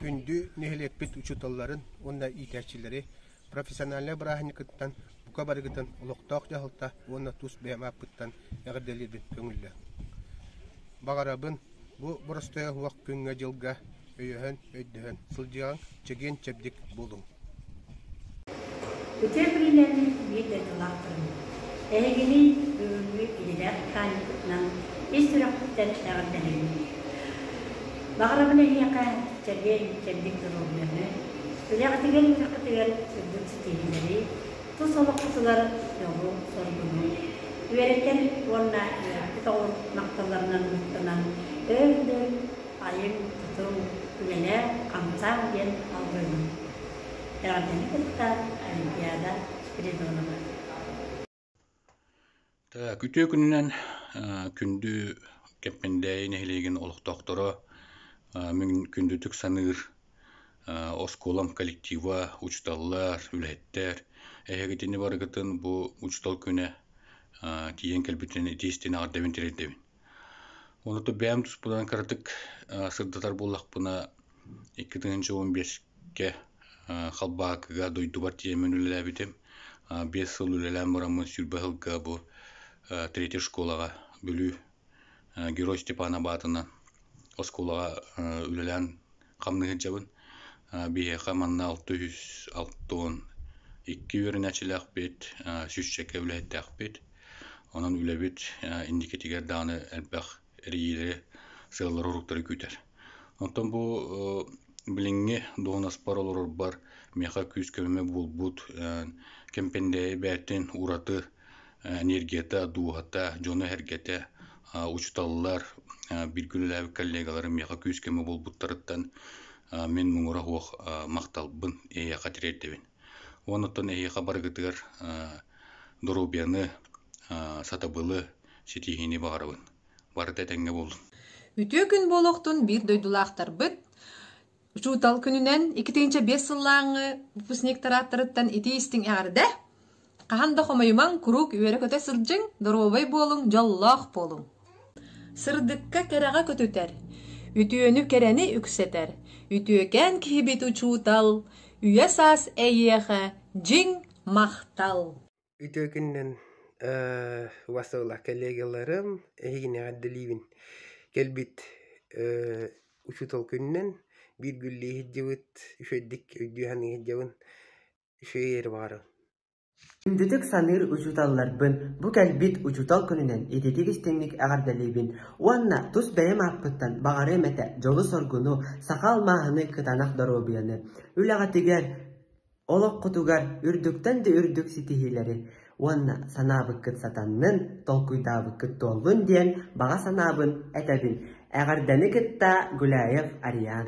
Күндү нэһилиэкпит учууталларын уонна иитээччилэри профессиональнай бырааһынньыккыттан, бука барыгытын олохтоох дьаһалта уонна тус бэйэм ааппыттан эҕэрдэлиирбин көҥүллүөм. Баҕарабын бу боростуой оһуох күҥҥэ-дьылга өйөһөн, өйдөһөн сылдьыаҥ, чэгиэн-чэбдик буолуҥ. Ити эбилинэн биир дойдулаахпын. Эһигини бүгүҥҥү идэлээх механикпытынан ис сүрэхпиттэн эҕэрдэлиибин. Баҕарабын эһиэхэ чэгиэн-чэбдик доруобуйаны, үлэҕитигэр-үөрэххитигэр үрдүк ситиһиилэри, тус олоххутугар дьолу-соргуну, үөрэтэр уонна үөрэхпит оҕо махталларынан ылыктанан өр-өтөр Айыҥ, тутуҥ, үлэлээҥ, хамсааҥ диэн албыҥҥын эҕэрдэни кытта Олимпиада Спиридонова. Күтүө күнүнэн күндү Кэмпиндээйи нэһилиэгин олохтоохторо күндүтүк саныыр оскуолам коллектива, учууталлар, үлэһиттэр, эһигитини барыгытын бу учуутал күнэ тиийэн кэлбитинэн итии-истиин аҕардарбын тиэрдэбин. Онуту бэйэм туспунан кыратык сырдатар буоллахпына, икки тыһыынча уон биэскэ халбаакыга дойдубар тиийэммин үлэлээбитим. Биэс сыл үлэлээн бараммын сүүрбэ сылга бу третья школаҕа Бүлүү Герой Степан Абаатынан оскуолаҕа үлэлээн хамныһыдьабын биһиэхэ манна алта үс алта уон икки үөрэнээччилээхпит сүүсчэкэ үлэһиттээхпит онон үлэбит инникитигэр даҕаны элбэх эрийиилэри сыаллары уруктары күүтэр онтон бу билиҥҥи дуоһунаспар олорорбор миэхэ күүс-көмө буолбут кэмпэндээйи бээтин ураты энергията, дууһата, дьоно-сэргэтэ, учууталлар, бииргэ үлэлээбит коллегаларым миэхэ күүс-көмө буолбуттарыттан мин муҥура суох махталбын эһиэхэ тириэрдэбин. Уон оттон эһиэхэ барыгытыгар доруобуйаны, сатабылы, ситиһиини баҕарабын. Барыта этэҥҥэ буоллун. Үтүө күн буолуохтун биир дойдулаахтарбыт Учуутал күнүнэн икитинчэ биэс сыллааҥҥы выпускник тарааттарыттан итии-истиҥ эҕэрдэ! Хаһан да хомойумаҥ, куруук үөрэ-көтө сылдьыҥ, доруобай буолуҥ, дьоллоох буолуҥ. Сырдыкка кэрэҕэ көтүтэр, үтүөнү кэрэни үксэтэр, үтүөкээн киһибит учуутал, үйэ-саас эйиэхэ дьиҥ махтал! үтүөкүннэн убастабыллах коллегаларым эһигинэҕэ эрдэлиибин кэлбит учуутал күнүнэн бииргүллүү иһирдьэбит үчүгэйдик өйдүү-саныы иһирдьэбин үчүгэй иһэри баҕарабын үндүтүк саныыр учууталларбын бу кэлбит учуутал күнүнэн ититик истиҥник эҕэрдэлиибин уонна тус бэйэм ааппыттан баҕарыам этэ дьолу-соргуну саха алмааһыны кытанах доруобуйаны үлэҕитигэр олоххутугар үрдүктэн да үрдүк ситиһиилэри уонна санаабыккыт сатаннын, толкуйдаабыккыт туоллун диэн баҕа санаабын этэбин. Эҕэрдэни кытта Гуляев Ариан